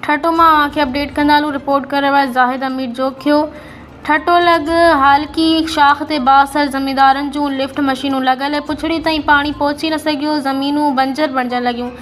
ٺٽو مان اوهان کي اپڊيٽ ڪندا هلون رپورٽ ڪرڻ واري زاهد امير جوکيو ٺٽو لڳ هالڪي شاخ تي بااثر زميندارن جون لفٽ مشينون لڳل پڇڙي تائين پاڻي پهچي نه سگهيو زمينون بنجر بڻجڻ لڳيون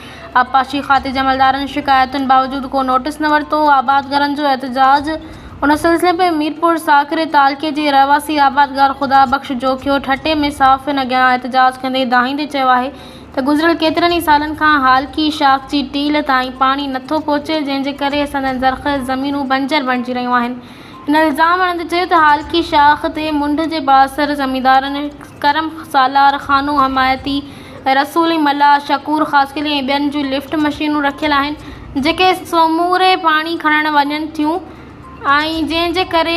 آبپاشي کاتي جي عملدارن شڪايتن باوجود ڪو نوٽس نه ورتو آبادگارن جو احتجاج ان سلسلي ۾ ميرپور ساڪري تعلقي جي رهواسي آبادگار خدا بخش جوکيو ٺٽي ۾ صحافين اڳيان احتجاج ڪندي دانهيندي چيو آهي ته گذريل ڪيترن ئي سالن کان هالڪي شاخ جي ٽيل تائين پاڻي نٿو پهچي جنهن جي ڪري سندن زرخيز زمينون بنجر بڻجي رهيون آهن هن الزام هڻندي چيو ته هالڪي شاخ تي منڍ جي بااثر زميندارن ڪرم سالار خانو حمايتي رسولي ملاح شڪور خاصخيلي ۽ ٻين جون لفٽ مشينون رکيل آهن جيڪي سموري پاڻي کڻڻ وڃن ٿيون آهي جنهن جي ڪري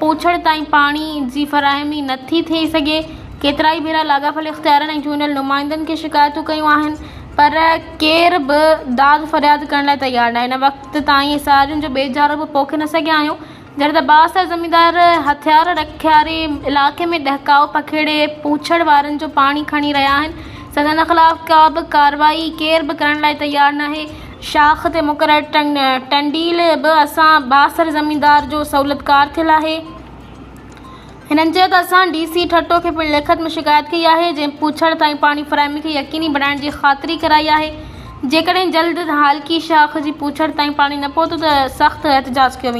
پوڇڙ تائين پاڻي جي فراهمي نه ٿي ٿئي سگهي ڪيترائي ڀيرا لاڳاپيل اختيارين ۽ چونڊيل نمائندن کي شڪايتون ڪيون آهن پر ڪير به داد فرياد ڪرڻ لاء تيار ناهي هن وقت تائين اسارين جو ٻيجارو به پوکي نه سگهيا آهيون جڏهن ته بااثر زميندار هٿيار رکياري علائقي ۾ ڏهڪاء پکيڙي پوڇڙ وارن جو پاڻي کڻي رهيا آهن سندن خلاف ڪابه ڪارروائي ڪير به ڪرڻ لاء تيار ناهي شاخ تي مقرر ٽنڊيل به اسان بااثر زميندار جو سهولتڪار ٿيل آهي. هنن چيو ته اسان ڊي سي ٺٽو کي پڻ لکت ۾ شڪايت ڪئي آهي جنهن پوڇڙ تائين پاڻي فراهمي کي يقيني بڻائڻ جي خاطري ڪرائي آهي جيڪڏهن جلد هالڪي شاخ جي پوڇڙ تائين پاڻي نه پهتو ته سخت احتجاج ڪيو ويندو.